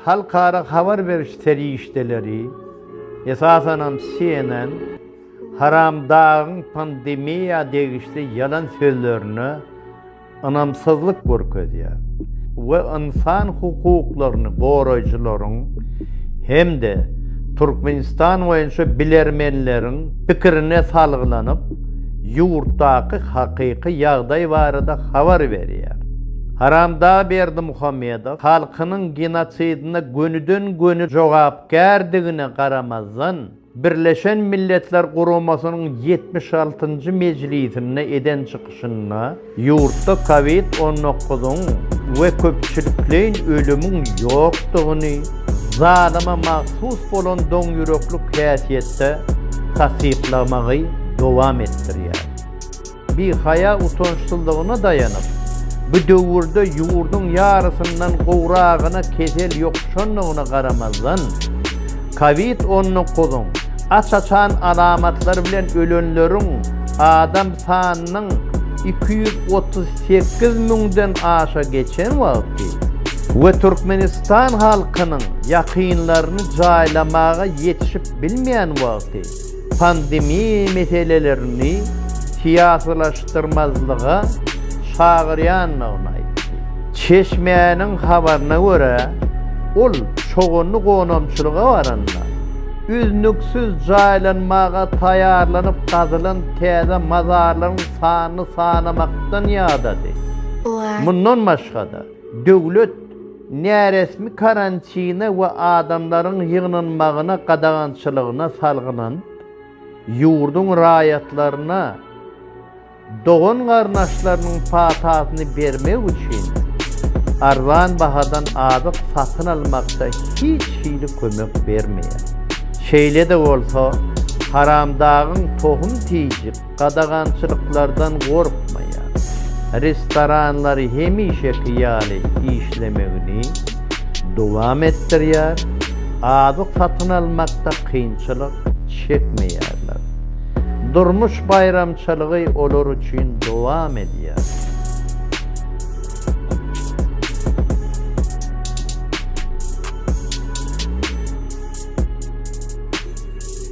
Halkara habar beriş serişdeleri, esasanam CNN, Haramdagyň pandemiýa degişli ýalan sözlerine ynamsyzlyk görkezýär we ynsan hukuklaryny goraýjylaryň hem-de Türkmenistan boýunça bilermenleriň pikirine salgylanyp, ýurtdaky hakyky ýagdaý barada habar berýär. Haramdag Berdimuhamedow halkynyň genosidine gönüden-göni jogapkärdigine garamazdan, Birleşen Milletler Guramasynyň ýetmiş altynjy mejlisinde eden çykyşynda ýurtda covid on dokuzyň we köpçülikleýin ölümiň ýokdugyny, zalyma mahsus bolan doňýüreklik häsiýetde tassyklamagy dowam etdirýär. Bihaýa-utançsyzlygyna daýanyp, bu döwürde ýurduň ýarysyndan gowragyna kesel ýokuşandygyna garamazdan, Covid on dokuzyň aç-açan alamatlary bilen ölenleriň adam sanynyň iki ýüz otuz sekiz müňden aşa geçen wagty we Türkmenistan halkynyň ýakynlaryny jaýlamaga ýetişip bilmeýän wagty, pandemiýa meselelerini syýasylaşdyrmazlyga çagyrýandygyny aýtdy. Çeşmäniň habaryna görä, ol çoganly gonamçylyga baranda, üznüksiz jaýlanmaga taýýarlanyp gazylan täze mazarlaryň sanyny sanamakdan ýadady. Mundan başga-da, döwlet näresmi karantine we adamlaryň ýygnanmagyna gadagançylygyna salgylanyp, ýurduň raýatlaryna dogan-garyndaşlarynyň patasyny bermek üçin arzan bahadan azyk satyn almakda hiç hili kömek bermeýär. Şeýle-de bolsa, Haramdagyň tohum-tijik gadagançylyklardan gorkmaýar, restoranlary hemişeki ýaly işlemegini dowam etdirýär, azyk satyn almakda kynçylyk çekmeýärler. Durmuş baýramçylygy olar üçin dowam edýär.